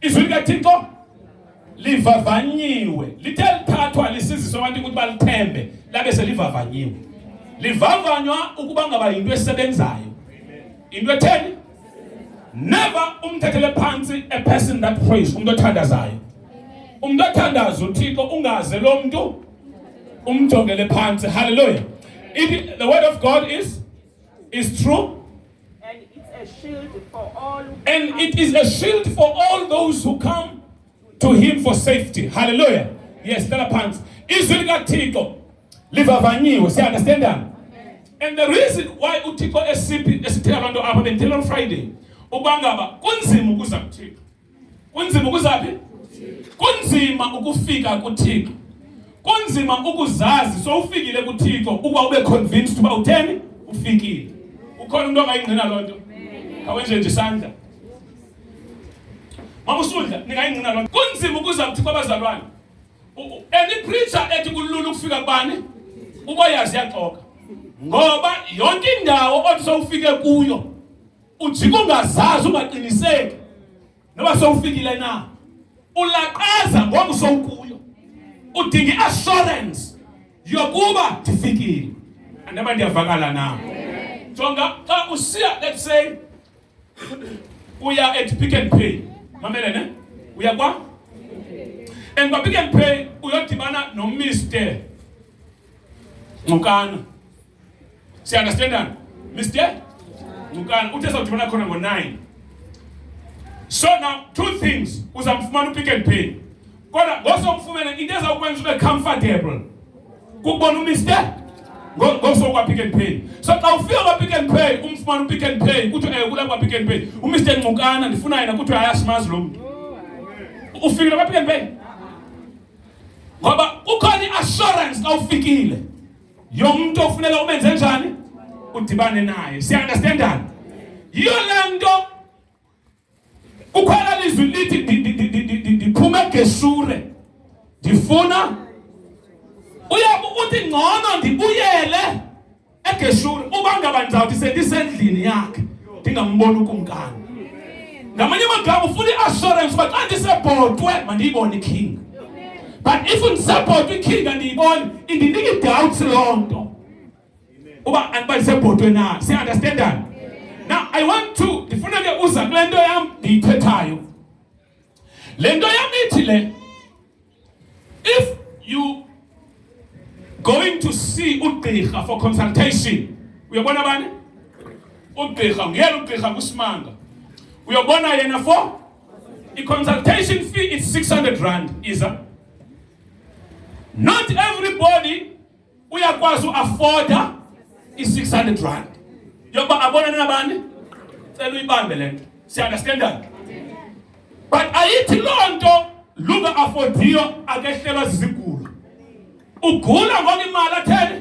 izwi likathixo livavanyiwe lithe lithathwa lisiziswa abantu ukuthi balithembe labe selivavanyiwe livavanywa ukuba ngaba yinto esebenzayo into etheni never umthethele phansi a person that prays umuntu othandazayo umuntu othandaza uthixo ungaze lo mntu umjongele phansi haleluya the word of god is is true And it's a shield for all who And come it is a shield for all those who come to him for safety. Hallelujah. Yes, tell a pants. Izwi likaThixo livavanyiwe. Siya understand that? And the reason why uThixo esiphi esithela abantu apha bendithela on Friday uba ngaba kunzima ukuza kuThixo. Kunzima ukuzaphi? Kunzima ukufika kuThixo. Kunzima ukuzazi sowufikile kuThixo ukuba ube convinced uba utheni ufikile. Ukhona umuntu ongayingqina loo nto? Kawenje nje isandla. Mama usudla ningayingqina loo nto. Kunzima ukuza kuThixo abazalwane. Any preacher ethi kulula ukufika kubani? Uba yazi yaxoka. Ngoba yonke indawo othi sowufike kuyo ujika ungazazi ungaqiniseki noba sowufikile na ulaqaza ngoku sowukuyo udinga i-assurance yokuba ndifikile andaba ndiyavakala na jonga xa usiya let's say uya at pick and pay mamele ne uya kwa and kwapick and pay uyodibana nomr nqokana Si understand? Mister? You can utesa kuti mwana kona ngo 9. So now two things uzamfumana upick and pay. Kodwa ngosomfumene into ezawukwenza ube comfortable. Kubona uMister? Ngoso kwa pick and pay. So xa ufika kwa pick and pay umfumana upick and pay kuthi eh kula kwa pick and pay. UMister Nqukana ndifuna yena kuthi ayasimazi lo muntu. Ufikile kwa pick and pay? Ngoba kukhona iassurance xa ufikile. Yonke umuntu ofunela umenze njani? Udibane naye. Siya understandana? Yiyo le nto ukhona lizwi lithi ndiphuma eGeshure. Ndifuna uyabe uthi ngcono ndibuyele eGeshure uba ngaba ndizawuthi sendisendlini yakhe ndingamboni ukumkani. ngamanye amagama ufuna i-assurance uba xa ndisebhotwe mandiyibone iking but if ndisebhotwe iking andiyiboni indinika i-doubts loo nto uba andiba ndisebhotwe na siunderstandani now i want to ndifuna ke uza kule nto yam ndiyithethayo le nto yam ithi le If you going to see ugqirha for consultation, uyabona bani? Ugqirha, nguyena ugqirha kusimanga. Uyabona yena for the consultation fee is 600 rand, is a Not everybody uyakwazi uafoda i-600 rand yokuba abonane nabani cela uyibambe le nto siunderstandani but ayithi loo nto lunga afodiyo akehlelwa zizigulo ugula ngoba imali atheni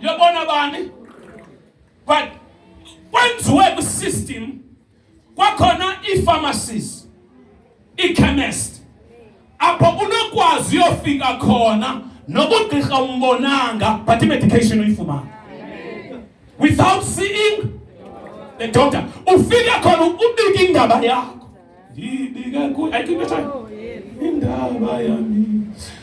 yobona bani but kwenziwe kwisystem Kwakhona ii-pharmacies, ii-chemist apho unokwazi uyofika khona noba ugqirha umbonanga but imedication uyifumana without seeing the doctor ufike khona ubike indaba yakho ndibike kuyo ayikho into indaba yami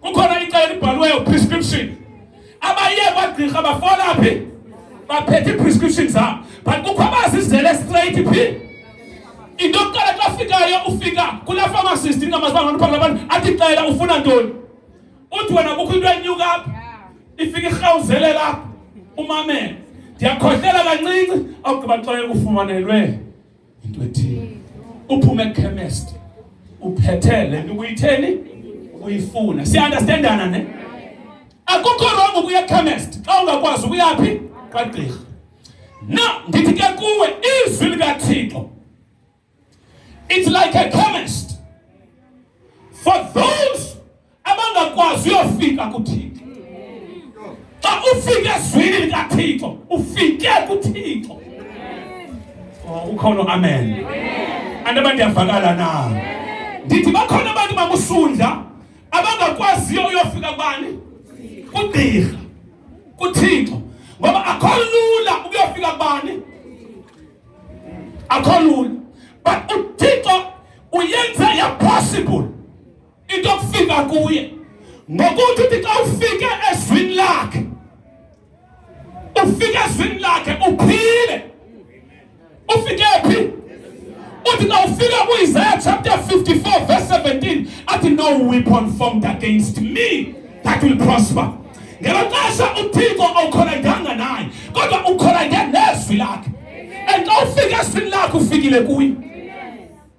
Kukhona icala elibhaliweyo prescription. Abaye kwagqirha bafola phi? Baphethe prescription zabo. But kukho abazizele straight phi? Into yokuqala xa fikayo ufika kula pharmacist ingamazi bangani phambi labantu athi cela ufuna ntoni? Uthi wena kukho into enyuka apha. Ifika irhawuzele lapha. Umamele. Ndiyakhohlela kancinci awugqiba xa ekufumanelwe into ethile uphume ekhemesti uphethe le nto ubuyitheni uyifuna siunderstandana ne akukho rongo ukuya ekhemesti xa ungakwazi ukuyaphi kwagqirha na ndithi ke kuwe izwi likathixo it's like a chemist for those abangakwazi uyofika kuthixo xa ufike ezwini likathixo ufike kuthixo oh, ukhona amen anti abantu ndiyavakala na ndithi bakhona abantu bakusundla abangakwaziyo uyofika kubani kugqirha kuthixo ngoba akho lula ukuyofika kubani akho lula but uthixo uyenza yapossible into yokufika kuye ngokuthi uthi xa ufike ezwini lakhe ufike ezwini lakhe uphile ufike phi uthi xa ufika kuIsaiah chapter 54 verse 17 athi no weapon formed against me that will prosper ngelo xesha uthixo awukholanganga naye kodwa ukholange nezwi lakhe and xa ufike ezwini lakhe ufikile kuye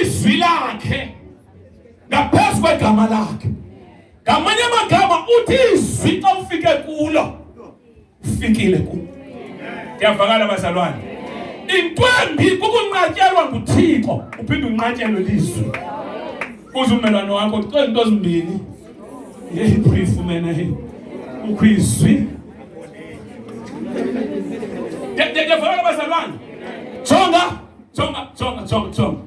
izwi lakhe ngaphezu kwegama lakhe ngamanye amagama uthi izwi xa ufike kulo ufikile kulo ndiyavakala bazalwane into embi kukunqatyelwa nguthixo uphinde unqatyelwe lizwi kuze ummelwane wakho cela into ezimbini yeyibrifu mena ukho izwi Songa, songa, songa, songa, songa.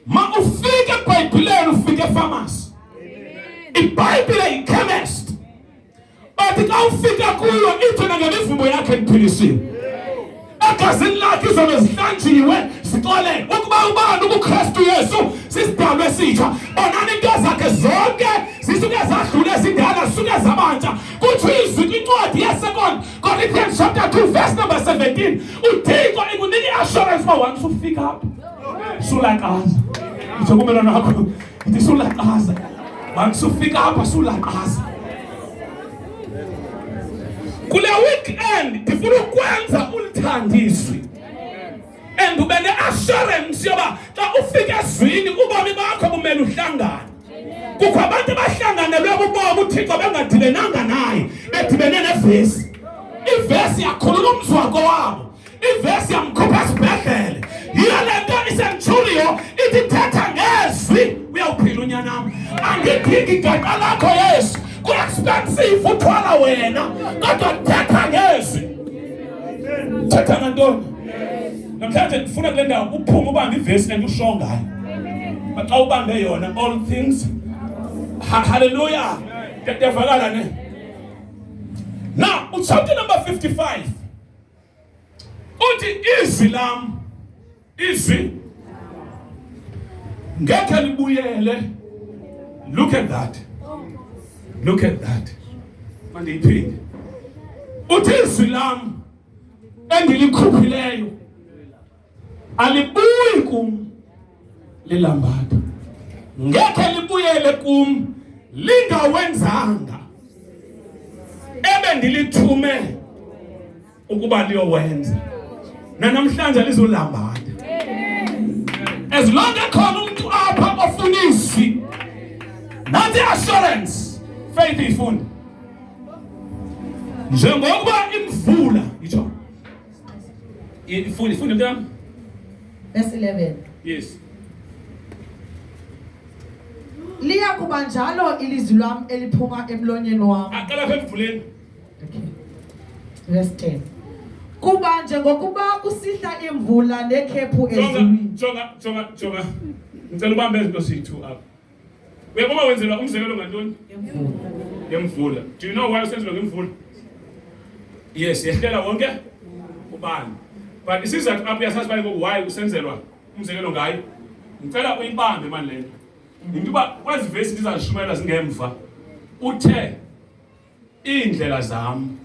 Ma ufike Biblia ufike famasi. Ibhayibhile yikhemesti. But xa ufika kuyo ithi nangemivumbo yakhe ndiphilisile. egazini lakhe izono zihlanjiwe zicolele ukuba ubani ukukristu yesu sisidalwa esitsha bonani into zakhe zonke zisuke zadlule zindala zisuke zabantsha kuthiwa izwi kwincwadi yesekond corinthians chapter 2 verse number 17 uthixo ikunika i-assurance uba wani sufika apha sulakaza itsho kumelwana wakho ithi sulakaza wani sufika apha sulakaza kule weekend ndifuna ukwenza ulithandiswi and ube ne-assurance yoba xa ufika ezwini ubomi bakho bumele uhlangane kukho abantu abahlanganelwe bubomi uthixo bengadibenanga naye bedibene nevesi ivesi yakhulula umzi wako wabo Ivesi yamkhupha esibhedlele. Yiyo le nto isentshuliyo itithetha ngezwi. Uyawuphila unyanam. Andidingi igaqqa lakho Yesu. Ku-expensive uthwala wena kodwa ndithetha ngezwi. Thetha ngantoni? Namhlanje ndifuna kule ndawo uphume ubambe ivesi and usho ngayo. Xa ubambe yona all things. Hallelujah. Ndiyavakala ne? Now, chapter number 55. uthi izwi lam izwi ngekhe libuyele look at that look at that mandiyiphinde uthi izwi lam endilikhuphileyo alibuyi kum lilambatha ngekhe libuyele kum lingawenzanga ebe ndilithume ukuba liyowenza nanamhlanje lizolambatha as long ekhona umntu apha ofuna izwi nanti assurance faith iyifunde njengokuba imvula itsho In full, full of them? Verse 11. Yes. Liya kuba njalo ilizwi lwam eliphuma emlonyeni wam. Aqala apha emvuleni. Okay. Verse 10. Kuba njengokuba kusihla imvula nekhephu ezulwini. Jonga, jonga, jonga. Ngicela ubambe izinto sithu apha. Uyakuba wenzelwa umzekelo ngantoni? Ngemvula. Do you know why usenzelwa ngemvula? Yes, yehlela wonke ubani. But isizathu apho uyasazi bani ngoku why usenzelwa umzekelo ngayo. Ngicela uyibambe mani le nto. Yinto uba kwezi vesi ndizazishumayela zingemva. Uthe iindlela zam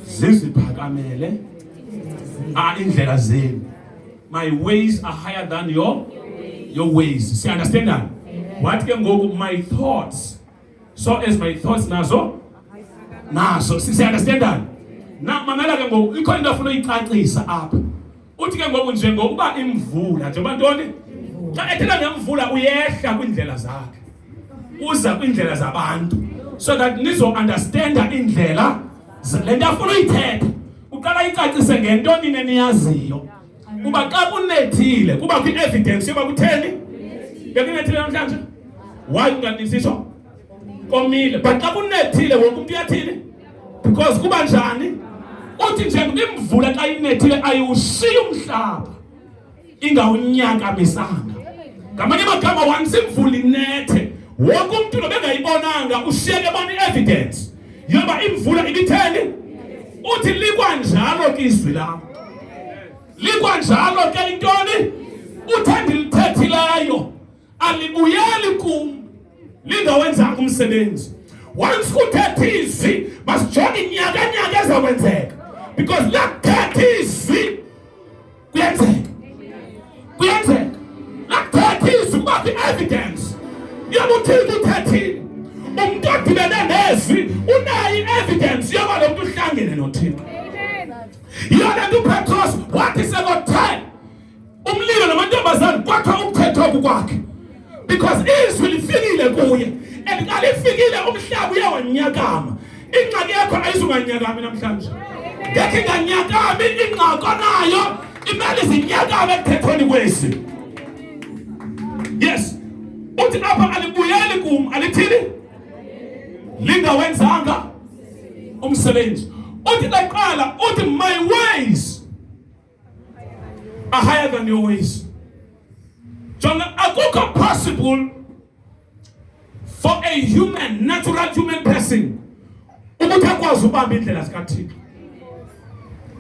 ziziphakamele ah iindlela zenu my ways are higher than your your ways siunderstand that what ke ngoku my thoughts so as my thoughts nazo nazo siunderstand that na mamela ke ngoku ikho into afuna uyicacisa apha uthi ke ngoku njengokuba imvula njengoba ntoni xa ethetha ngemvula uyehla kwiindlela zakhe uza kwiindlela zabantu so that nizounderstanda iindlela le nto afuna uyithetha uqala icacise ngento nine niyaziyo kuba xa kunethile kuba kwi-evidence yoba kutheni bekunethile namhlanje why unganisiso komile but xa kunethile wonke umntu uyathini because kuba njani uthi njengoba imvula xa inethile ayiwushiyi umhlaba ingawunyakamisanga ngamanye amagama once imvula inethe wonke umntu nobengayibonanga ushiyeke bona i-evidence yoba imvula ibitheni uthi likwanjalo ke izwi lam likwanjalo ke intoni uthandi lithethileyo alibuyeli kum linda wenzanga umsebenzi once kuthetha izwi masijonge inyaka nyaka ezakwenzeka because lakuthetha izwi kuyenzeka kuyenzeka lakuthetha izwi kuba kwi-evidence yoba uthixo uthethile umntu odibene nezwi unayo i-evidence yoba lo mntu uhlangene nothixo yiyona nto upetros wathi sekothe umlilo namantombazane kwathiwa umthetho oku kwakhe because izwi lifikile kuye and xa lifikile umhlaba uye wanyakama ingxaki yakho ayizunganyakami namhlanje ngekhe inganyakami ingxako nayo imele zinyakame ekuthethweni kwesi yes uthi apha alibuyeli kum alithini lingawenzanga umsebenzi uthi ndaqala uthi my ways are higher than your ways. So akukho possible for a human, natural human person ukuthi akwazi ubamba indlela zikaThixo.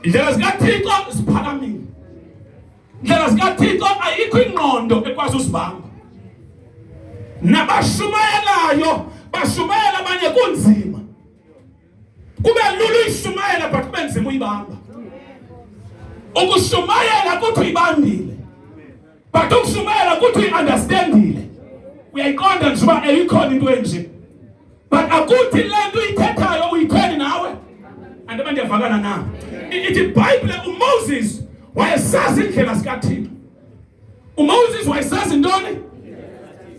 Indlela zikaThixo ziphakamile. Indlela zikaThixo ayikho ingqondo ekwazi usibamba. Nabashumayelayo bashumayela abanye kunzima. kube lula uyishumayela but kube nzima uyibamba ukushumayela kuthi uyibambile but ukushumayela kuthi uyi-understandile uyayiqonda nje uba eyikhona into enje but akuthi le nto uyithethayo uyitheni nawe and abantu yavakana na ithi ibhayibhile umoses wayesazi indlela zikathixo umoses wayesazi ntoni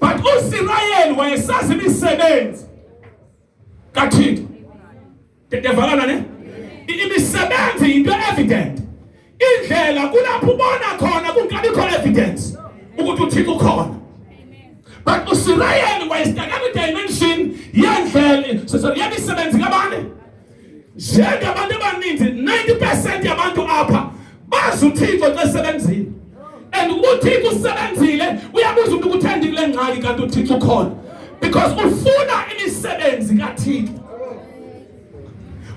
but usirayeli wayesazi imisebenzi kaThixo. Ndiyavalana ne? Imisebenzi yinto evident. Indlela kulapho ubona khona kungabikho evidence ukuthi uThixo ukhona. But uSirayeli wayestakana idimension yendlela, so yemisebenzi kabani? njengabantu abaninzi 90 percent yabantu apha bazi uthixo xa sebenzile and ukuba uthixo usebenzile uyabuza umntu ukuthi uthandi kule ngxaki kanti uthixo ukhona because ufuna imisebenzi kathixo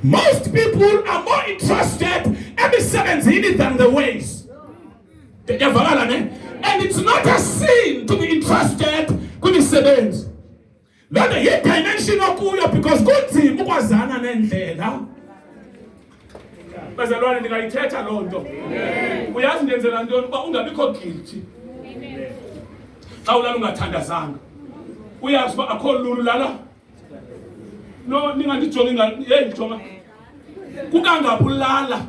most people are more interested emisebenzini than the ways ndiyavakala ne and it's not a sin to be interested kwimisebenzi loo nto yidimension okuyo because kunzima ukwazana neendlela bazalwane ndingayithetha loo nto uyazi ndenzela ntoni uba ungabikho guilty xa ulala ungathandazanga uyazi uba akho lulu lala no ningandijongi heyi jonga kukangaphi ulala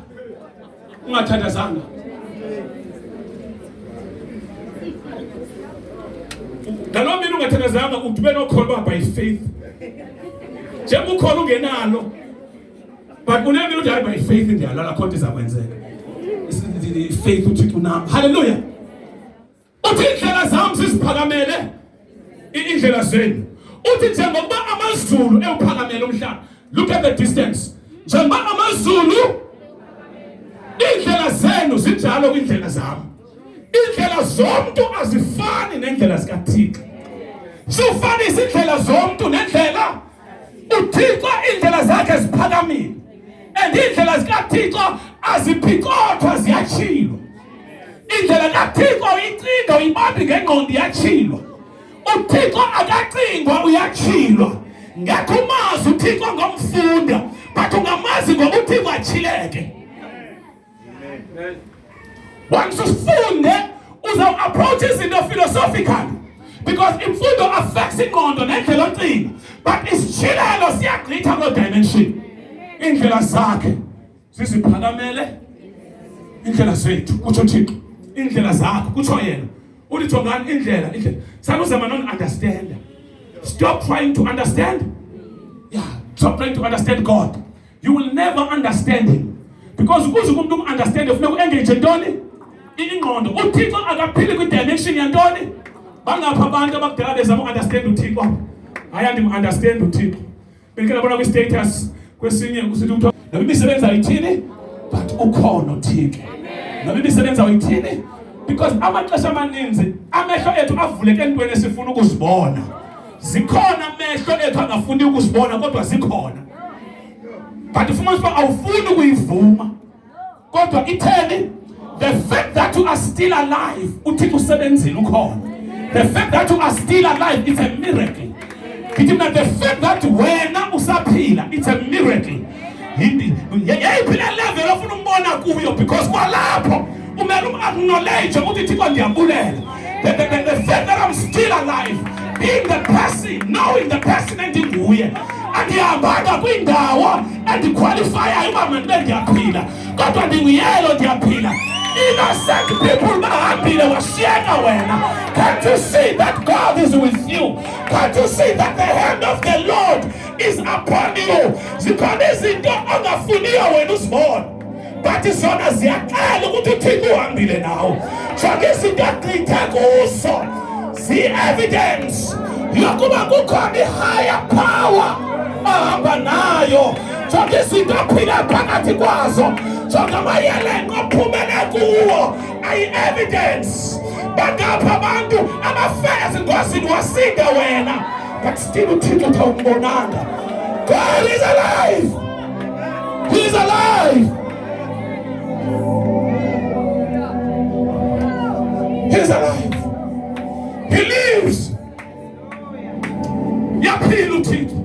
ungathandazanga ngaloo mini ungathandazanga udube nokholwa by faith njengoba ukhona ungenalo but unemini uthi hayi by faith ndiyalala khonto iza kwenzeka faith uthixo nam halleluya uthi iindlela zam ziziphakamele iindlela zenu uthi njengokuba amazulu ewuphakamele umhlaba look at the distance njengoba amazulu iindlela zenu zinjalo kwiindlela zam iindlela zomntu azifani neendlela zikathixo sofanisa iindlela zomntu nendlela uthixo iindlela zakhe ziphakamile and iindlela zikathixo aziphikothwa ziyatshilwa indlela kathixo icinga uyibambi ngengqondo iyatshilwa uthixo akacingwa uyatshilwa ngekho umazi uthixo ngomfunda but ungamazi ngokuthixo atshileke Once ufunde uza approach izinto philosophical because imfundo affects ingqondo nendlela ocinga but isitshilelo siyagqitha koo dimension iindlela zakhe ziziphakamele iindlela zethu kutsho thixo iindlela zakho kutsho yena uthi jongani indlela indlela sanuzama non-understanda stop trying to understand yeah stop trying to understand god you will never understand him because ukuze umuntu umunderstande funeka uengage ntoni ingqondo uthixo akaphili kwidimension yantoni bangapha abantu abakudala bezama uunderstand uthixo hayi andimunderstand uthixo bendike ndabona kwistatus kwesinye kusithi kuthiwa noba imisebenzi ayithini but ukhona uthixo noba imisebenzi awuyithini because amaxesha amaninzi amehlo ethu avuleke entweni esifuna ukuzibona Zikhona amehlo ethu angafuni ukuzibona kodwa zikhona. But ufumanisa uba awufuni ukuyivuma. Kodwa itheni? The fact that you are still alive, uThixo usebenzile ukhona. The fact that you are still alive is a miracle. Ngithi mina the fact that wena usaphila it's a miracle. Yayiphila level ofuna umbona kuyo because kwalapho umele um-acknowledge ukuthi Thixo ndiyabulela. the, the, the, the fact that I'm still alive being the person knowing the person endinguye andihambanga kwiindawo endikhwalifaya uba mandibe ndiyaphila kodwa ndinguyelo ndiyaphila innocent people bahambile washiyeka wena can't you see that god is with you can't you see that the hand of the lord is upon you zikhona izinto ongafuniyo wena uzibona bathi zona ziyaqala ukuthi uthixo uhambile nawo jonke izinto agqitha kuso zii-evidence yokuba kukhona i-higher power ahamba nayo zonke izinto aphila phakathi kwazo zonke amayelenqo aphumele kuwo ayi-evidence bangapha abantu abafela ezingozini wasinda wena but still uthixo uthawumbonanga god is alive He's alive. He's alive. He lives. Yaphila uThixo.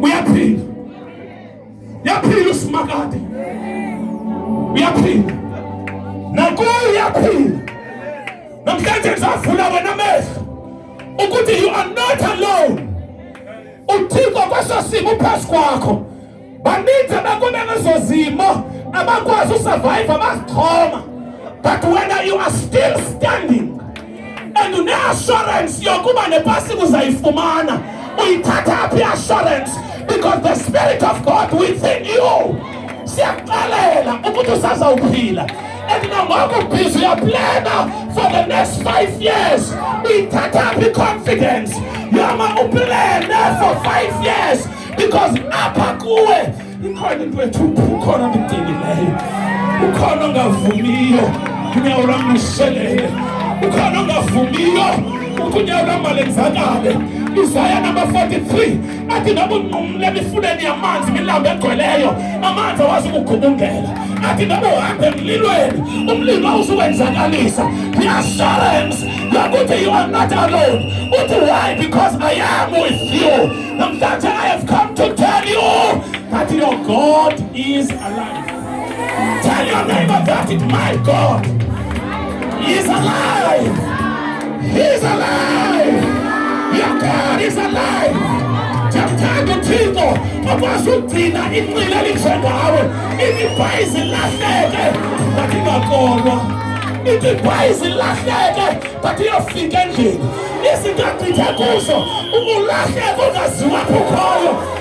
Uyaphila. Yaphila uSimakade. Uyaphila. Nakuyo uyaphila. Namhlanje ngizavula wena amehlo ukuthi you are not alone. uthixo kweso simo uphezu kwakho baninzi abakume ngezo zimo abakwazi usurvive abazixhoma but wena you are still standing and une-assurance yokuba nepasika uzayifumana uyithatha phi i-assurance because the spirit of god within you siyakuxelela ukuthi usazawuphila and nangoku bhizi uyaplana for the next five years uyithatha phi confidence yoma uplane for five years because apha kuwe ikhona into ethu ukhona omdingileyo ukhona ongavumiyo unyawo lwam lushelele ukhona ongavumiyo ukuthi unyawo lwam malenzakale izaya number 43 athi ndabunqumle emifuleni yamanzi imilambo egcweleyo amanzi awazi ukugubungela athi ndabuhambe emlilweni umlilo awuzuwenzakalisa reassurance yokuthi you are not alone uthi why because i am with you namhlanje i have come to tell you that your god is alive Tell your neighbor that it, my God is alive. He is alive. Your God is alive. Jamthanda uThixo okwazi ukugcina inqila elinje ngawe. Imibhayizi ilahleke but ingakolwa. Imibhayizi ilahleke but iyofika endlini. Izinto agqithe kuzo ukulahleka ungaziwa kukhoyo.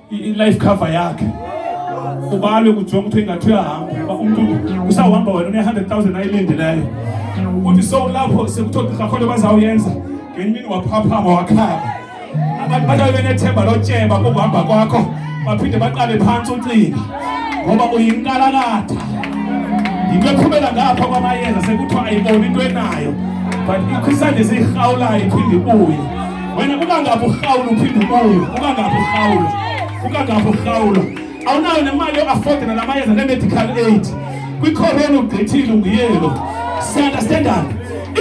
i-life cover yakhe ubalwe kujonga ukuthi ingathi uyahambe uba umntu usawuhamba wena une-hundred thousand ayilindileyo uthi so lapho sekuthiwa gqirha khona bazawuyenza ngenye imini waphaphama wakhala abantu bahlale benethemba lotyeba kokuhamba kwakho baphinde baqale phantsi ucinga ngoba uyinkalakatha yinto ephumela ngapha kwamayeza sekuthiwa ayiboni into enayo but ikho isandla esiyirhawulayo iphinde ibuye wena kuba ngapha urhawula uphinde ubuye kuba ngapha urhawula kuba ngapha urhawula awunayo nemali yoafford nala mayeza ne-medical aid kwikhorona ugqithile unguyelo siunderstandan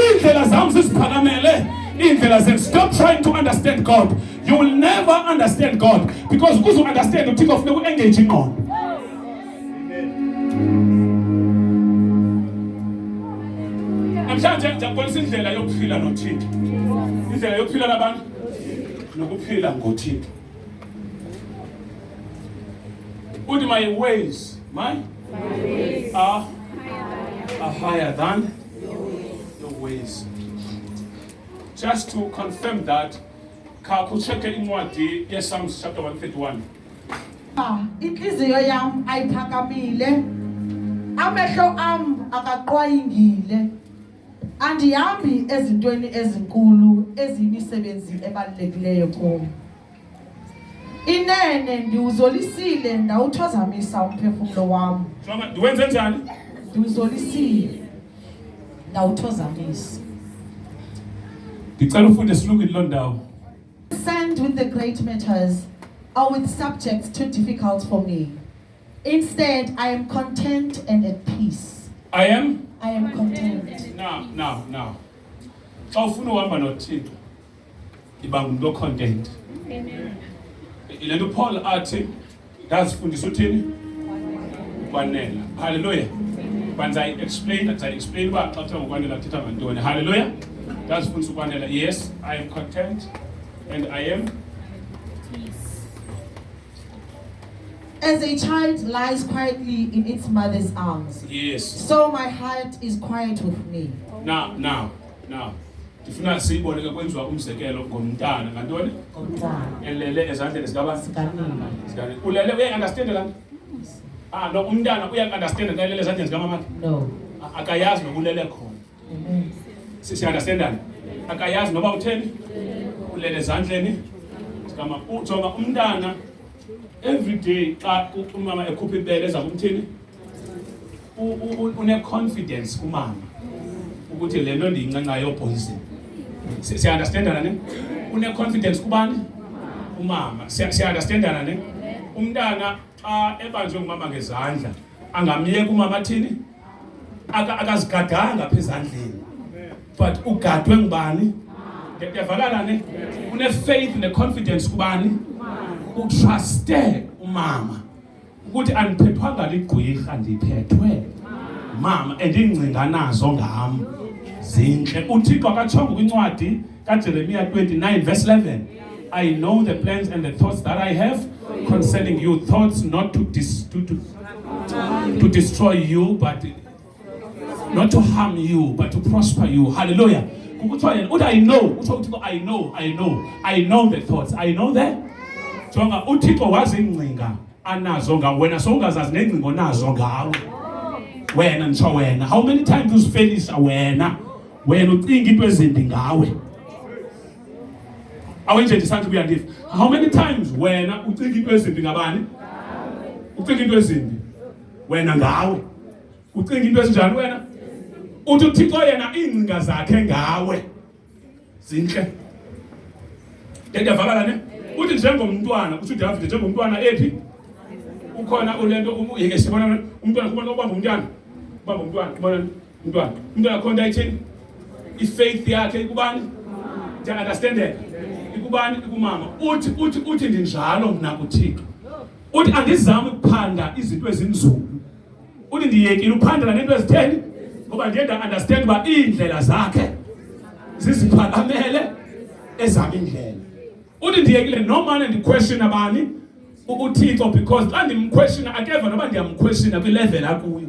iindlela zam ziziphakamele iindlela zethu stop trying to understand god you will never understand god because ukuze uunderstand uthixo funeka uengage ingqondo namhlanje ndiyakubonisa indlela yokuphila nothixo indlela yokuphila nabantu nokuphila ngothixo uthi my ways my are, are higher than your ways just to confirm that khakutshekhe incwadi yesalms chapter 131 intliziyo yam ayiphakamile amehlo am akaqwayingile andihambi ezintweni ezinkulu eziyimisebenzi ebalulekileyo kum inene ndiwuzolisile ndawuthozamisa umphefumlo wam ndiwenze njani ndiwuzolisile ndawuthozamisa ndicela ufunde silungile loo ndawo Concerned with the great matters or with subjects too difficult for me. Instead, I am content and at peace. I am I am content. now now now xa ufuna uhamba nothixo iba ngumntu ocontent Amen. yile nto upaul athi ndazifundisa uthini ukwanela haleluya but ndizayi-explain ndizayi-explain uba xa kuthiwa ngokwanela kuthetha ngantoni haleluya ndazifundisa ukwanela yes i am content and i am As a child lies quietly in its mother's arms, yes. so my heart is quiet with me. Now, now, now. ndifuna siyibone ke kwenziwa umzekelo ngomntana ngantoni elele ezandleni zikabani ulele uyayiunderstande laa nto ah no umntana uyayiunderstande xa elele ezandleni zikamamakhe akayazi nokulele khona siunderstandane akayazi noba utheni ulele ezandleni zikamama ujonga umntana every day xa umama ekhupha ibele eza kumthini une-confidence kumama ukuthi le nto ndiyincancayo yobhoyizini siyaunderstandana ne une-confidence kubani umama siyaunderstandana ne umntana xa ebanjwe ngumama ngezandla angamyeka umama athini akazigadanga apha ezandleni but ugadwe ngubani ndiyavalana ne une-faith ne-confidence kubani utruste umama ukuthi andiphethwanga ligqwirha ndiphethwe mama endingcinga nazo ngam zintle uthixo akatshongo kwincwadi kaJeremiya 29 verse 11 I know the plans and the thoughts that I have concerning you thoughts not to, dis to, to, to destroy you but not to harm you but to prosper you hallelujah kuthiwa yena uthi i know kuthiwa uthixo i know i know i know the thoughts i know the jonga uthixo wazi ingcinga anazo ngawe wena sowungazazi nengcinga onazo ngawe wena nditsho wena how many times uzifelisa wena wena ucinga into ezimbi ngawe awenje ndisanti kuya ndifa how many times wena ucinga into ezimbi ngabani ucinga into ezimbi wena ngawe ucinga into ezinjani wena uthi uthixo yena iingcinga zakhe ngawe zintle ndiyavakala ne uthi njengomntwana uthi udavide njengomntwana ephi ukhona ulento yeke sibona umntwana kubona ubamba umntwana ubamba umntwana kubona Mntwana, umntwana akho nto ayithini? I-faith yakhe ikubani? Ndiya-understandeka. Ikubani? Ikumama. Uthi uthi uthi ndinjalo mna kuThixo. Uthi andizami ukuphanda izinto ezinzulu. Uthi ndiyekile ukuphandela nento ezitheni? Ngoba ndiye nda-understand uba iindlela zakhe ziziphakamele ezami indlela. Uthi ndiyekile nomane ndiquestiona bani? uThixo because xa ndimquestiona akeva noba ndiyamquestiona kwi-level akuyo.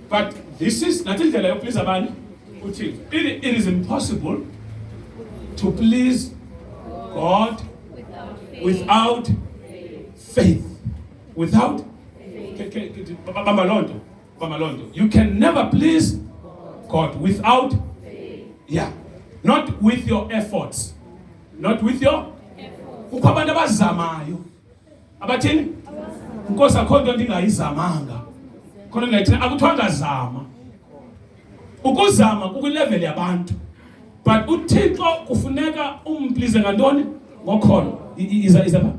but this is nantsi indlela yokuplease abani uthixo it, it is impossible to please god without faith without bamba loo nto bamba loo nto you can never please god without yeah not with your efforts not with your kukho abantu abazamayo abathini nkosi akho nto ndingayizamanga khona ndingayithini akuthiwa ngazama ukuzama kukwileveli yabantu but uthixo kufuneka umplize ngantoni ngokholo iza iza pha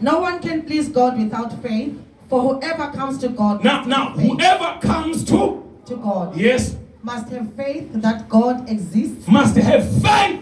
No one can please God without faith, for whoever comes to God now, now faith, whoever comes to to God yes must have faith that God exists must have faith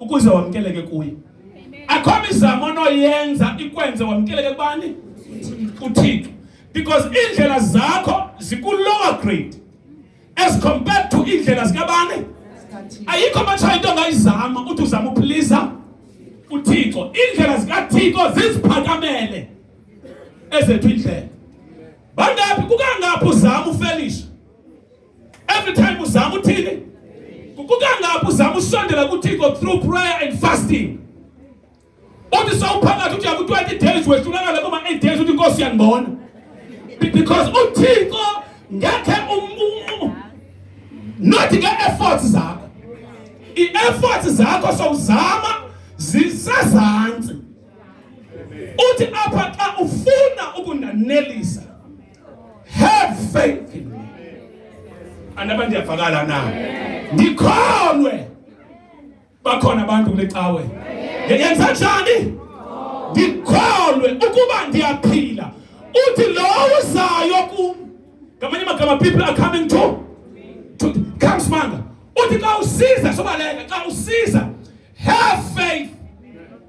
ukuze wamkeleke kuye akho mizamo onoyenza ikwenze wamkeleke kubani kuthixo because iindlela zakho ziku-lower grade as compared to iindlela zikabani ayikho matshaya into ongayizama uthi uzama uphilisa uthixo iindlela zikathixo ziziphakamele ezethu iindlela bangaphi kukangaphi uzama ufelisha every time uzama uthini kukangaphi uzama usondela kuthixo through prayer and fasting uthi sawuphakathi uthi yaku-20 days wehlulakala kuma-8 days uthi inkosi yandibona because uthixo ngekhe not nge-efforts zakho i-efforts zakho sowuzama zisezantsi uthi apha xa ufuna ukundanelisa Have faith in me. Anaba ndiyavakala na? Ndikholwe. Bakhona abantu kule cawe. Yenza njani? Ndikholwe ukuba ndiyaphila. Uthi lowo uzayo kum. Ngamanye amagama people are coming to to come smanga. Uthi xa usiza sobaleka xa usiza have faith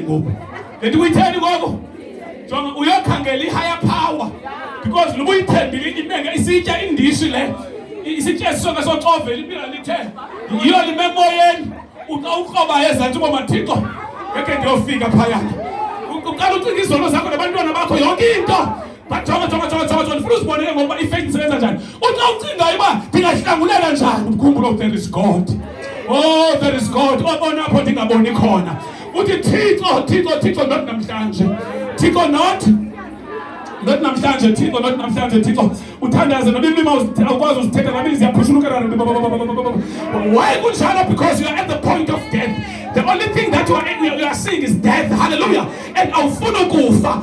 ngoku leti uyitheni ngoko jonga uyokhangela i-higher power because luba uyithembile imenge isitya indishi le isitya esisonke socovela impila lithe yiyo lime emoyeni uxa ukrobayo ezantsi uba mathixo ngekhe ndiyofika phayana uqala ucinga izono zakho nabantwana bakho yonke into Bajonga jonga jonga jonga jonga ndifuna uzibonele ngokuba ifake ndisebenza njani. Uthi awucingayo uba ndingahlangulela njani umkhumbulo oh, there is God. Oh there is God. Obona oh, apho ndingaboni khona. Uthi Thixo Thixo Thixo not namhlanje. Thixo not not namhlanje Thixo not namhlanje Thixo. Uthandaze noba ilima awukwazi uzithetha nami ziyaphushunuka. Why kunjalo because you are at the point of death. The only thing that you are, you are seeing is death. Hallelujah. And awufuni ukufa.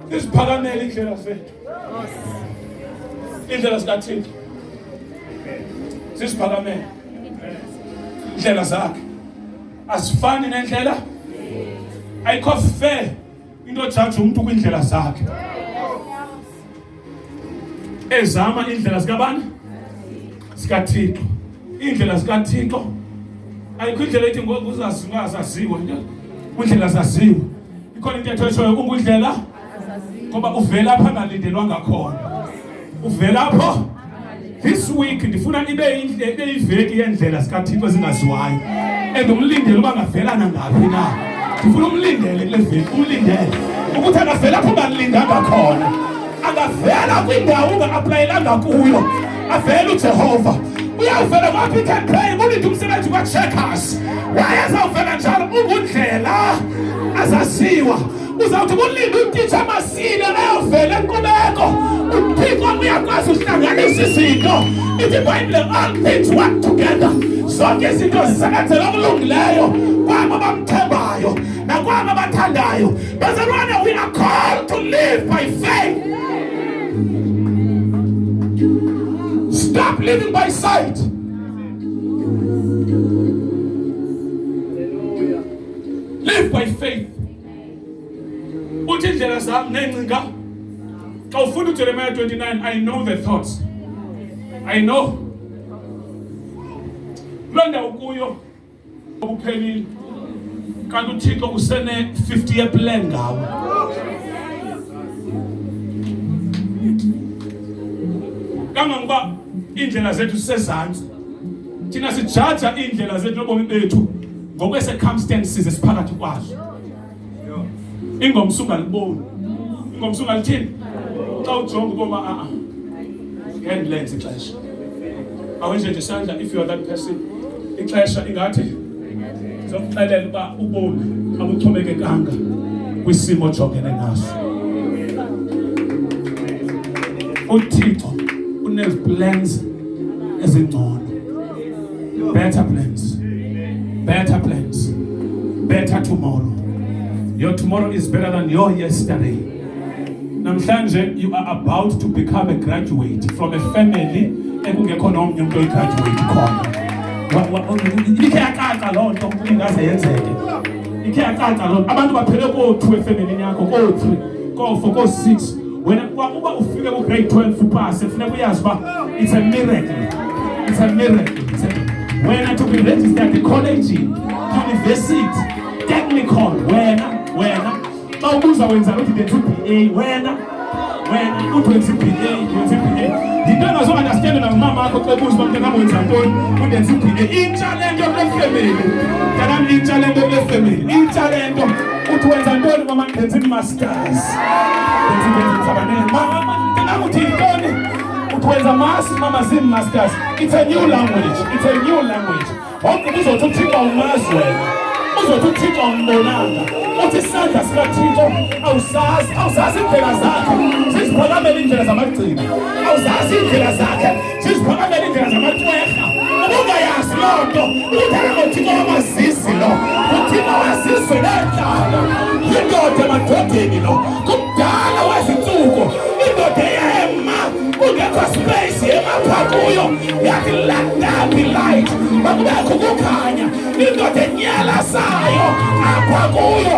Iziphakamele indlela zethu. Indlela zikaThixo. Siziphakamele. Indlela zakhe. Asifani nendlela. Ayikho fair into jaji umuntu kwindlela zakhe. Ezama indlela zikabani? zikaThixo iindlela zikaThixo ayikho indlela ethi ngoku uzaziwa zaziwa kundlela zaziwa ikhona intetho eshoyo kungundlela ngoba uvela apha angalindelwanga khona uvela apho this week ndifuna ibe indle ibe iveki yendlela zikaThixo ezingaziwayo and umlindele uba ngavela nangaphi na ndifuna umlindele kule veki umlindele ukuthi akavela apho banilindanga khona angavela kwindawo unga-aplayelanga kuyo avele ujehova uyawuvela kwa-pick pay ulinde umsebenzi kwa-checkers wayezawuvela njalo ungundlela azaziwa uzawuthi kulinde utitsha amasile ayovela enkqubeko uthixo uyakwazi uhlanganisa izinto ithi ibhayibhile all things work together zonke izinto zisebenzela okulungileyo kwabo bamthembayo nakwabo abathandayo Barcelona, we are called to live by faith. Stop living by sight. Live by faith. Uthi indlela zami nengcinga xa ufunda uJeremiah 29 I know the thoughts. I know. Loo ndawo kuyo Ukuphelile. Kanti uThixo usene 50 year plan ngawe. Kangangoba indlela zethu sisezantsi. Thina sijaja indlela zethu nobomi bethu ngokwe circumstances esiphakathi kwazo. ingomso ungaliboni ingomso ungalithini xa ujonga uboma a ah, ngendilenze ah. ixesha awenje nje isandla if you are that person ixesha ingathi zokuxelela uba ubomi abuxhomekekanga kwisimo ojongene naso uthixo uneziplans ezingcono Better plans. Better plans. Better tomorrow. Your tomorrow is better than your yesterday. Namhlanje you are about to become a graduate from a family ekungekho nomnye umuntu oyigraduate khona. Ikhe yacaca loo nto ingaze yenzeke. Ikhe yacaca loo nto. Abantu baphele koo-two efemelini yakho, koo-three, koo-four, koo-six. wena kwakuba ufike kugrade 12 upase funeka uyazi uba it's a miracle it's a miracle wena to be registered ecollege university technical wena wena xa ubuza wenza uthi ndenza uba wena wena uthi wenza iba wenza iba yinto engazounderstande nangumama akho xa ebuza uba mntanam wenza ntoni undenza iba intsha le nto kule femeli mntanam intsha le nto kule femeli intsha le nto uthi wenza ntoni mama ndenza imas utwenza masi mama zim masters it's a new language it's a new language wonke uzothi uthixo umazi wena uzothi uthixo umbonanga uthi isandla sikathixo awusazi awusazi iindlela zakhe siziphakamela iindlela zamagcina awuzazi iindlela zakhe siziphakamele iindlela zamacwerha ubungayazi loo nto ukuthetha ngothixo wamazisi lo uthixo wazizwe neentlanga yindoda emadodeni lo kudala wezintsuku indoda eyema kungekho space yemapha kuyo yathi landaphi light makubekho ukukhanya indoda enyalasayo apha kuyo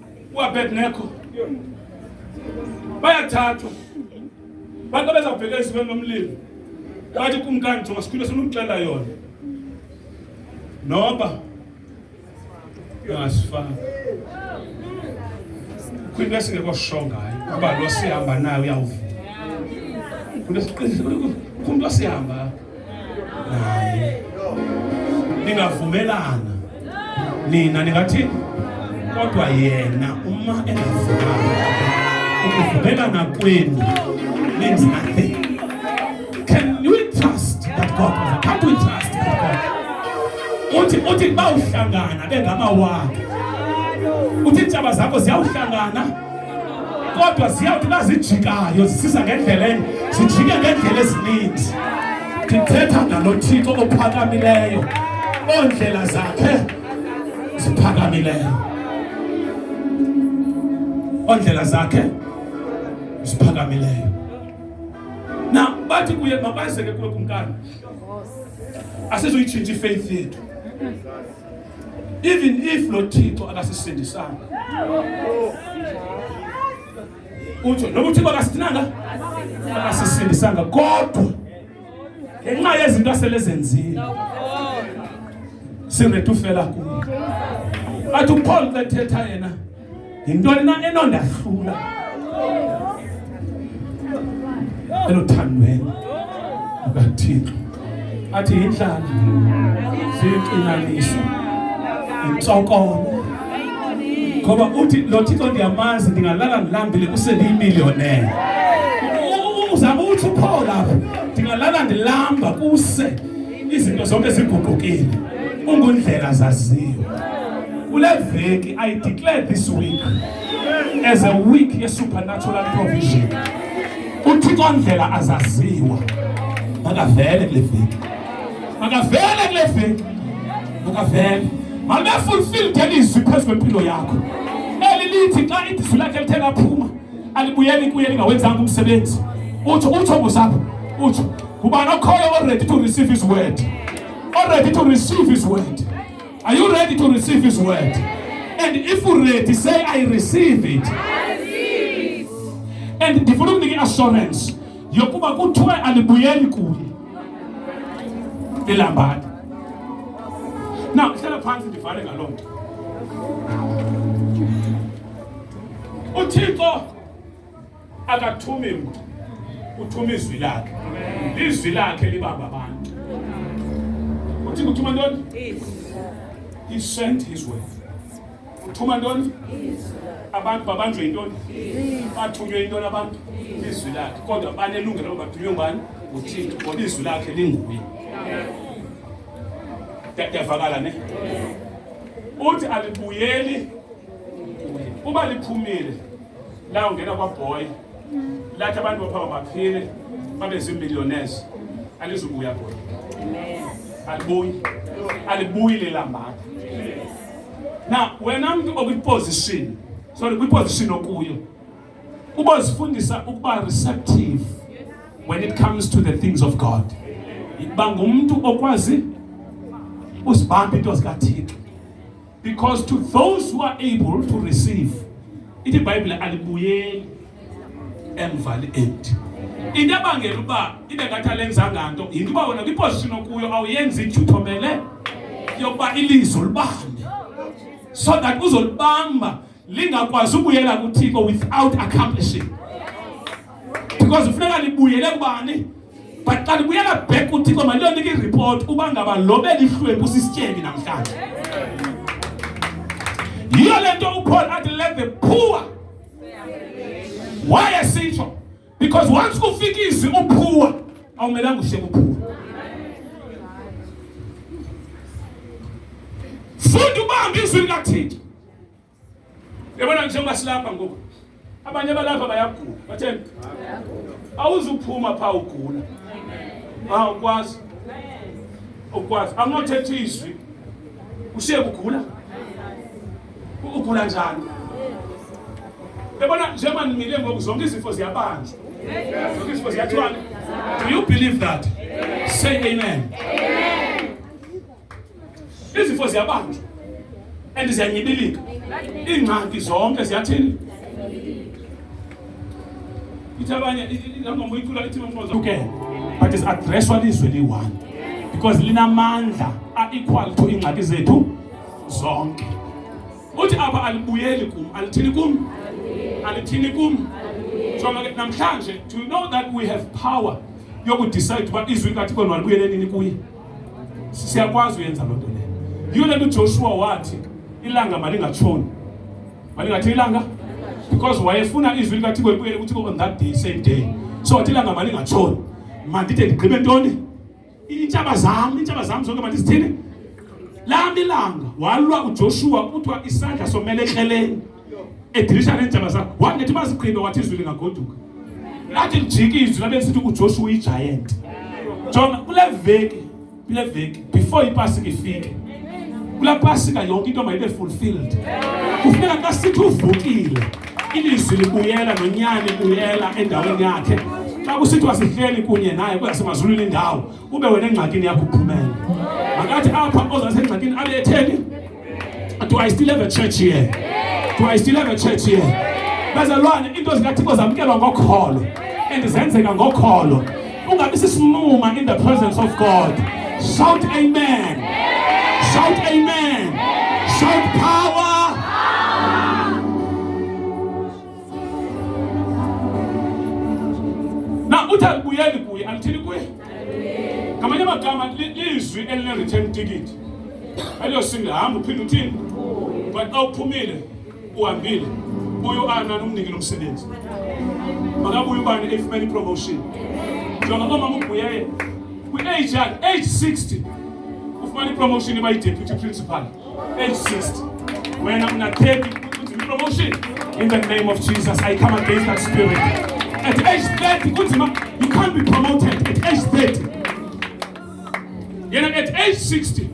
uAbednego bayathathwa bantu abezawubheka ezibeni lomlilo bathi kumkani jonga sikhule sinomxelela yona noba uyasifana kwinto esingekho sho ngayo uba lo sihamba nayo uyawuvuma kumntu osihamba naye ningavumelana nina ningathi kodwa yena uma engavumelana ukuvumelana kwenu means nothing can you trust that God can't we trust that God uthi uthi bawuhlangana bengamawakhe uthi intshaba zakho ziyawuhlangana kodwa ziyawuthi uba zijikayo zisiza ngendlela enye zijike ngeendlela ezininzi ndithetha ngalo thixo ophakamileyo oondlela zakhe ziphakamileyo oondlela zakhe ziphakamileyo na bathi kuye makwazeke kuwe kumkani asizoyitshintsha ifaith yethu even if lo Thixo akasisindisanga utsho noba uthixo akasithinanga akasisindisanga kodwa ngenxa yezinto asele zenzile siredi ufela kuye athi upaul xa ethetha yena yintoni na enondahlula eluthandweni lukathixo athi yindlala ziyixinaniso yintsokolo ngoba uthi lo thixo ndiyamazi ndingalala ndilambile kuseliyimiliyonele uzama uthi uphola apho ndingalala ndilamba kuse izinto zonke ziguqukile ungundlela zaziyo kule veki i declare this week as a week ye-supernatural provision uthixo ndlela azaziwa makavele kule veki makavele kule veki makavele malibefulfilled elizwi phezu kwempilo yakho eli lithi xa idizwi lakhe lithe laphuma alibuyeli kuye lingawenzanga umsebenzi utsho utsho ngosapho utsho ngubani okhoyo oready to receive his word oready to receive his word are you ready to receive his word and if u ready say i receive it and ndifuna ukunika i-assurance yokuba kuthiwe alibuyeli kuye ilambati na hlala phantsi ndivale ngaloo nto uthixo akathumi mntu uthuma izwi lakhe lizwi lakhe libamba abantu uthi kuthuma ntoni he sent his word uthuma ntoni abantu babanjwe yintoni bathunywe yintoni abantu izwi lakhe kodwa banelungelo bathunywe ngubani nguthixo ngoba izwi lakhe linguye ndiyavakala ne uthi alibuyeli uba liphumile lawungena kwabhoyi lathi abantu baphaa baphile babe ziimillionaires alizubuya bhoyi alibuyi alibuyi lelambatha na wena mntu okwiposition sorry kwiposition okuyo ubozifundisa ukuba receptive when it comes to the things of god uba ngumntu okwazi usibamba into zikathixo because to those who are able to receive ithi ibhayibhile alibuyeli emva li-empty into ebangela uba ibe ngathi alenzanga nto yinto uba wena kwiposition okuyo awuyenzi ithuthomele yokuba ilizwi ulibambe so that uzolibamba lingakwazi ukuyela kuthixo without accomplishing because ufuneka libuyele kubani but xa libuyela back kuthixo maliyonike ireport uba ngaba lo belihlwempu sisityebi namhlanje yiyo le nto upaul athi let the poor why esitsho because once kufika izwi uphuwa awumelanga uhle kuphuwa funda ubambe izwi likathixo Yabona njengoba silapha ngoku abanye balapha bayagula batheni awuzuphuma phaa ugula awukwazi ukwazi anginothetha izwi ushiye kugula ugula njani yabona njengoba nimile ngoku zonke izifo ziyabanjwa zonke izifo ziyathwana do you believe that say amen, amen. Izifo ziyabanjwa and ziyanyibilika. Iingxaki zonke ziyathini? Ithi abanye ingoma uyicula ithi mfoza. Okay. But is addresswa lizwe liyi-1 because linamandla a-equal to iingxaki zethu zonke. Uthi apha alibuyeli kum, alithini kum? Alithini kum? So namhlanje to know that we have power yokudecide uba izwi likaThixo nalibuyele nini kuye. Siyakwazi uyenza loo nto leyo. Yiyo le nto uJoshua wathi ilanga malingatshoni. Malingathi ilanga because wayefuna izwi likaThixo libuyele kuThixo on that day same day. So wathi ilanga malingatshoni. Mandide ndigqibe ntoni? Iintshaba zam, iintshaba zam zonke mandizithini? Lami ilanga walwa uJoshua kuthiwa isandla somele ekreleni. edilishana neentshaba zakho wangethi bazigqibe wathi izwi lingagoduka lathi lijike izwi labe sithi uJoshua uyigiant jonga kule veki kule veki before ipasika ifike kula pasika yonke into mayibe fulfilled kufuneka xa sithi uvukile ilizwi libuyela nonyana libuyela endaweni yakhe xa kusithiwa sihleli kunye naye kweyasemazulwini indawo ube wena engxakini yakho uphumele makathi apha ozasengxakini abe etheni Do I still have a church here? Do I still have a church here? Bazalwane, into zikaThixo zamkelwa ngokholo and zenzeka ngokholo. Ungabi sisinuma in the presence of God. Shout amen. Shout amen. Shout power. Now, uthi alibuyeli kuye, alithini kuye. ngamanye amagama lizwi elinereturn ticket eliyosingila hamba uphinde uthini but xa uphumile uhambile buye uana nomniki lo msebenzi makabuye ubani eyifumene ipromotion njengoba omama ubuyeye kwi-age yakhe age 60 ufumana ipromotion iba yideputy principal wena ungathembi kunzima promotion in the name of jesus i come against that spirit at age 30 kunzima you can't be promoted at age 30 yena at age 60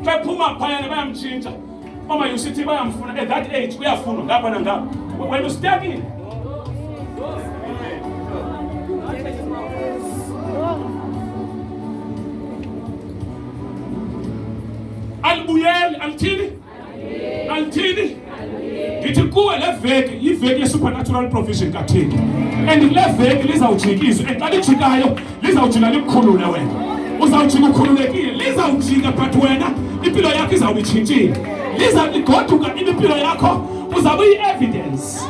bephuma phayana bayamtshintsha mama yusithi bayamfuna at that age uyafunwa ngapha nangapha wena usitakile Alibuyeli, alithini? Alithini? Ndithi kuwe le veki yiveki ye-supernatural provision kathini and le veki lizawujikizwa and xa lijikayo lizawujika likhulule wena uzawujika ukhululekile lizawujika but wena impilo yakho izawube itshintshile liza ligoduka impilo yakho uzawube iyi-evidence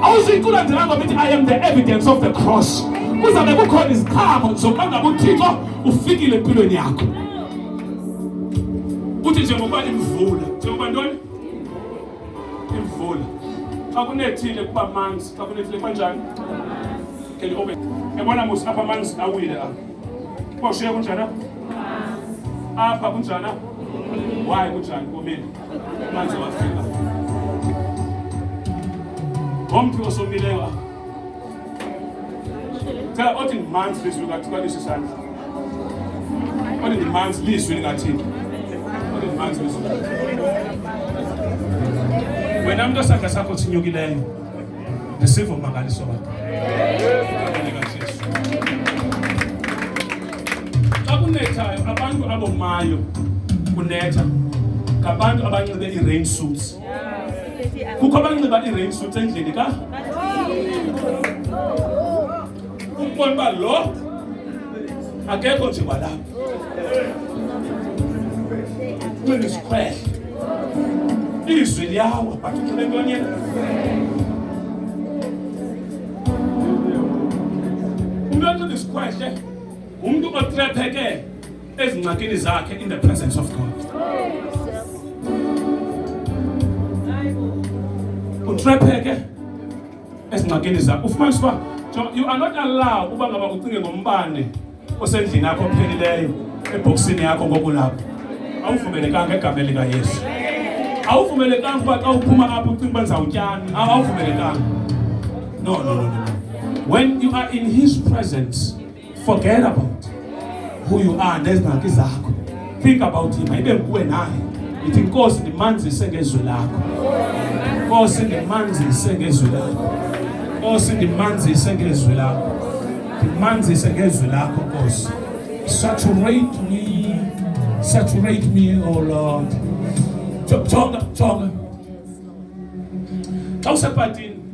awuzuyiculandelanga ukuthi i am the evidence of the cross kuzabe kukhona iziqhamo zokuba ngabuthixo ufikile empilweni yakho uthi njengoba imvula njengoba ntoni imvula xa kunethile kuba manzi xa kunethile kuba njani can you open yabona musa apha amanzi awile apha kuba ushiye kunjani apha kunjani why kunjani komile amanzi awafika ngomntu osomileyo apha Cela othi ngimanzi lizwi lingathiwa lesi sandla. Othi ngimanzi lizwi lingathini. Othi ngimanzi lizwi. Wena umuntu osandla sakho sinyukileyo. Receive umangaliso wakho. Xa kunethayo abantu abomayo kunetha ngabantu abanxibe i-rain suits kukho abanxiba i-rain suits endlini ka ukubona uba lo akekho nje kwalapha unxiba isikhwehle izwi liyawa but unxibe ntoni yena umntu onxiba isikhwehle ngumntu otrephekele ezincwadini zakhe in the presence of God. Utrepheke ezincwadini zakhe ufumanisa uba you are not allowed uba ngaba ucinge ngombane osendlini yakho ophelileyo ebhokisini yakho ngoku lapho awuvumelekanga egameni likayesu awuvumelekanga uba xa uphuma apho ucinga uba ndizawutyana awuvumelekanga no no no no when you are in his presence Forget about who you are nezingxaki zakho. Think about him. Ibe nguwe naye. Ithi inkosi ndimanzise ngezwi lakho. Inkosi ndimanzise ngezwi lakho. Inkosi ndimanzise ngezwi lakho. Ndimanzise ngezwi lakho Nkosi. Saturate me. Saturate me, oh Lord. Choka, choka. Xa usepatini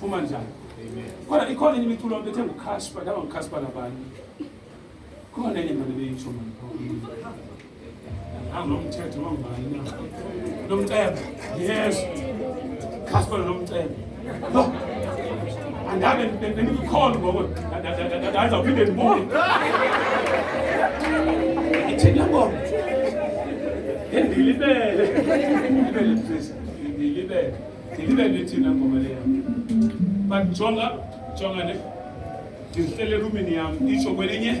Phuma njani? Amen. Kodwa ikhona enye imiculo bethe nguCashpa, laba nguCashpa labanye. Khona enye manje beyisho manje. Hamba nomthetho wangibani na? Nomcebo. Yes. Casper nomcebo. No. Angabe bengikhona ngoku. Ndaza uphinde ndibuye. Ithina ngoba. Endilibele. Endilibele. Endilibele. ndibe ndithi nangoma leyo but jonga jonga ne ndizihlele erumini yam itsho kwelinye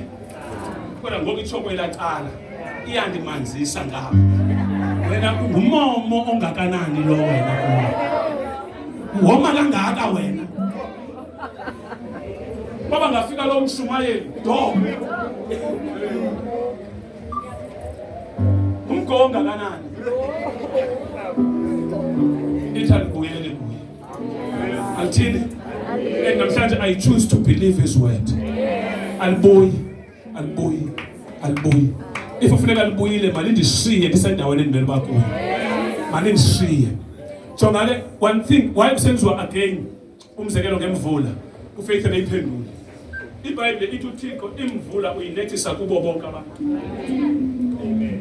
kodwa ngoku itsho kwela cala iyandimanzisa ngabo wena ngumomo ongakanani lo wena woma kangaka wena baba ngafika lo mshumayeli do Umgo ongakanani? Ithali kuyele kuye. Alithini? And namhlanje I choose to believe his word. Alibuyi, alibuyi, alibuyi. If ufuneka libuyile malindishiye ndisendaweni endimele uba kuyo. Malindishiye. Jonga le one thing why kusenziwa again umzekelo ngemvula ufaith ebeyiphendule ibhayibhile ithi uthixo imvula uyinethisa kubo bonke abantu amen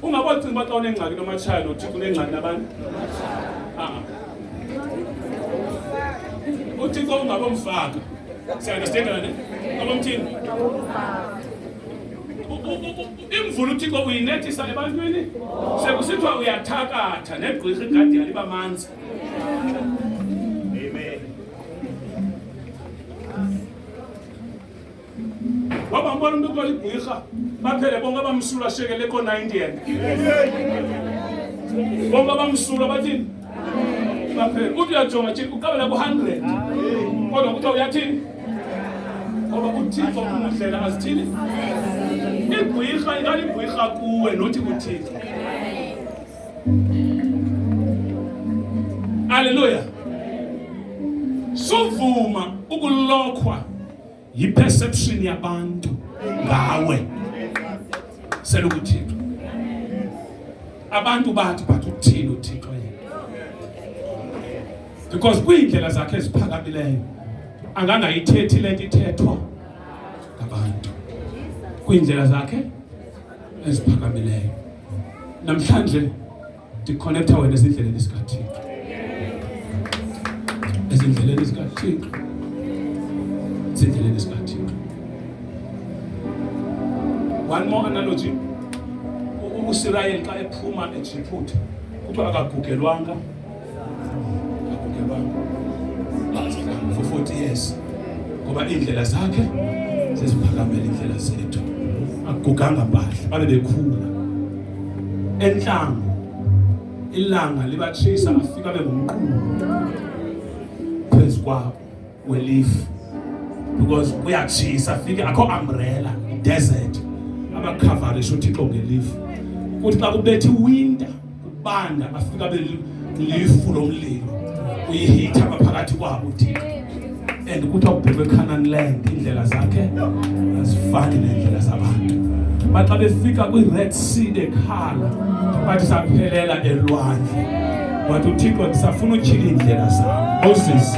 ungabocinga uba xa unengxaki nomatshaya nothixo unengxaki nabantu ah. uthixo ungabomfaka siyandisidengela ne abomthini imvula uthixo uyinethisa ebantwini sekusithiwa uyathakatha negqirha igadiyana iba manzi wabambona umntu kuthiwa ligwirha baphele bonke abamsulwa ashekele ko-nindian bonke abamsulwa bathini baphele uthi uyajonga tshini uqabela ku-hundred kodwa kuthiwa uyathini ngoba uthixo umdlela azithini igwirha ingaligwirha kuwe nothi kuthixo Haleluya. Sovuma ukulokhwa yiperception yabantu ngawe. Sela ukuthixo. Abantu bathi bathi uthini uthixo yena. Because kwiindlela zakhe eziphakamileyo angangayithethi le nto ithethwa ngabantu kwiindlela zakhe eziphakamileyo. namhlanje ndikhonektha wena ezindleleni zikathixo ezindleleni zikathixo ezindleleni zikathixo one more analogy usirayeli xa ephuma ejiphuta kuthiwa akagugelwanga ngoba iindlela zakhe ziziphakamela iindlela zethu akuguganga mpahla babe bekhula entlango ilanga libatshisa bafika bengumqulu phezu kwabo kwelief because kuyatshisa fike akho umbrella desert abakhavarisha uthixo ngelief kuthi xa kubethe iwinter kubanda bafika belifu lo mlilo uyihitha ngaphakathi kwabo uthixo and ukuthi awubhekwe ecanaan land iindlela zakhe azifani neendlela zabantu baxa befika kwi-red sea bekhala bathi saphelela elwandle wathi uthixo ndisafuna utyhila iindlela zam moses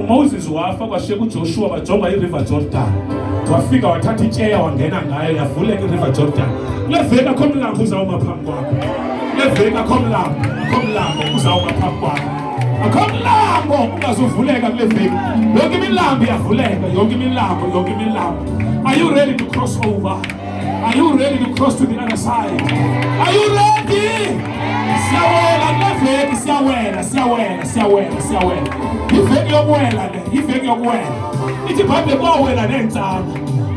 UMoses wafa kwashiya kuJoshua bajonga iRiver Jordan. Wafika wathatha ityeya wangena ngayo yavuleka iRiver Jordan. Kule veki akho mlambo uzawuma phambi kwakho. Kule veki akho mlambo, akho mlambo uzawuma phambi kwakho. Akho mlambo ungazuvuleka kule veki. Yonke imilambo iyavuleka, yonke imilambo, yonke imilambo. Are you ready to cross over? Are you ready to cross to the other side? Are you ready? Siyawela neveki siyawela siyawela siyawela siyawela. Iveki yokuwela le, iveki yokuwela. Ithi Bible kwawela neentsana,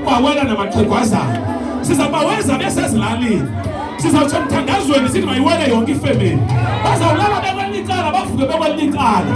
kwawela namaxhegwazana. Sizabaweza besezilalini. Sizawutsho mthandazweni sithi mayiwele yonke ifemeli. Bazawulala bekwelinye icala bavuke bekwelinye icala.